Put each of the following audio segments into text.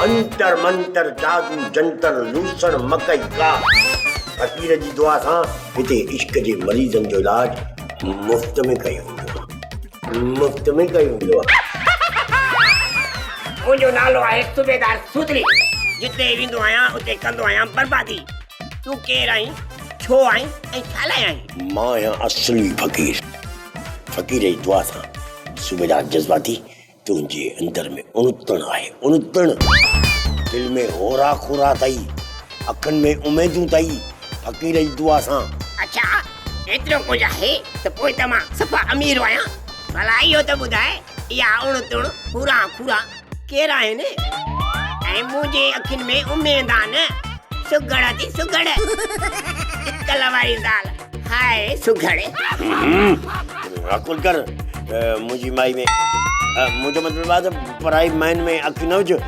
انتر منتر جادو جنتر لوسڻ مڪئي ڪا فقير جي دعا سان هتي عشق جي مريضن جو علاج مفت ۾ ڪيو ويندو آهي مفت ۾ ڪيو ويندو آهي. منهنجو نالو آهي صوبيدار سوتلي جتي ويندو آهيان اتي ڪندو آهيان بربادي تون ڪير آهين ڇو آهين ۽ ڇا لاء آهين. مان آهيان اصلي فقير فقير جي دعا سان صوبيدار جذباتي تنهنجي اندر ۾ اڻتڻ آهي اڻتڻ. دل ۾ هورا کورا ٿئي. اکين ۾ اميدون ٿئي. فقير جي دعا سان. اڇا ايترو ڪجهه آهي ته پوء ته مان صفا امير آهيان. ڀلا اهو ته ٻڌاء اها اڻتڻ، هورا کورا ڪير آهن؟ ۽ منهنجي اکين ۾ اميدان، سگهڙ ٿي سگهڙ. عقل واري زال. هاء سگهڙي. عقل ڪر منهنجي مائي ۾ منهنجو مطلب آهي ته پرائي مائين ۾ اک نه وجهه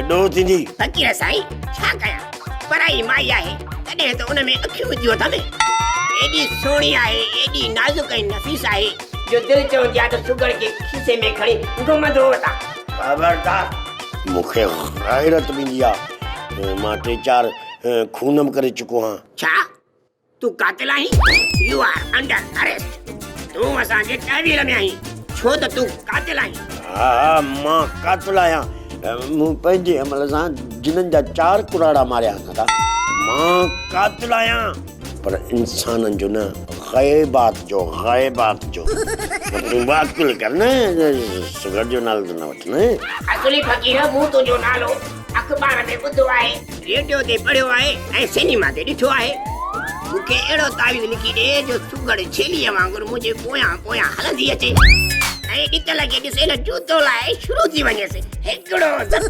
ڏوهه ٿيندي. فقير سائين ڇا ڪيان پرائي مائي آهي تڏهن ته ان ۾ اکيون وجهيو اٿم. ايڏي سهڻي آهي ايڏي نازڪ ۽ نفيس آهي جو دل چوندي آهي ته سگهڙ کي کيسي ۾ کڻي گهمندو وتان. خبردار. مون کي غيرت به ايندي آهي مان ٽي چار خون به ڪري چڪو آهيان. ڇا؟ تون قاتل آهين يو آر انڊر اريسٽ تون اسان جي تحويل ۾ آهين ڇو ته تون قاتل آهين ها ها مان قاتل آهيان مون پنهنجي عمل سان جنن جا چار ڪراڙا ماريا آهن ادا مان قاتل آهيان پر انسانن جو نه غيبات جو غيبات جو تون به عقل ڪر نه سگهڙ جو نالو ته نه وٺ نه اصلي فقير مون تنهنجو نالو اخبار ۾ ٻڌو آهي. ريڊيو تي پڙهيو آهي ۽ سينيما تي ڏٺو آهي. مون کي اهڙو تعويذ لکي ڏي جو سگهڙ ڇيليء وانگر منهنجي پويان پويان هلندي اچي ۽ ڏتل کي ڏسي نه جوتو لاهي شروع ٿي وڃيس. هڪڙو ڌپ،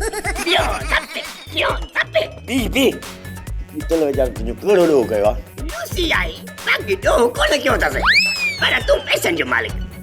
ٻيو ڌپ، ٽيون ڌپ. بيهه بيهه. ڏتل ويچارو تنهنجو ڪهڙو ڏوهه ڪيو آهي. لوسي آهي، باقي ڏوهه ڪونه ڪيو اٿس. پر تون پئسن جو مالڪ.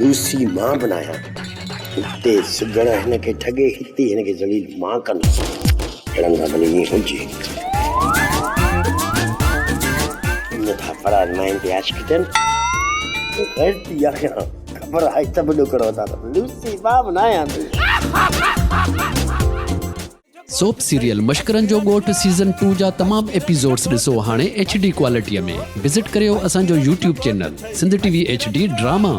لوسي مان به ناهيان اتي سگهڙ هن کي ٺڳي هتي هن کي ذليل مان ڪندس اهڙن سان ڀلي ائين هجي نٿا پڙائن مائن تي عاشق ٿين غيرتي آهيان خبر آهي ته به ڏوڪڙ وڌان لوسي مان به ناهيان سوپ سيريل مشڪرن جو ڳوٺ سيزن ٽو جا تمام ايپيسوڊس ڏسو هاڻي ايڇ ڊي ڪوالٽيء ۾ وزٽ ڪريو اسان جو YouTube channel Sindh T V H D drama.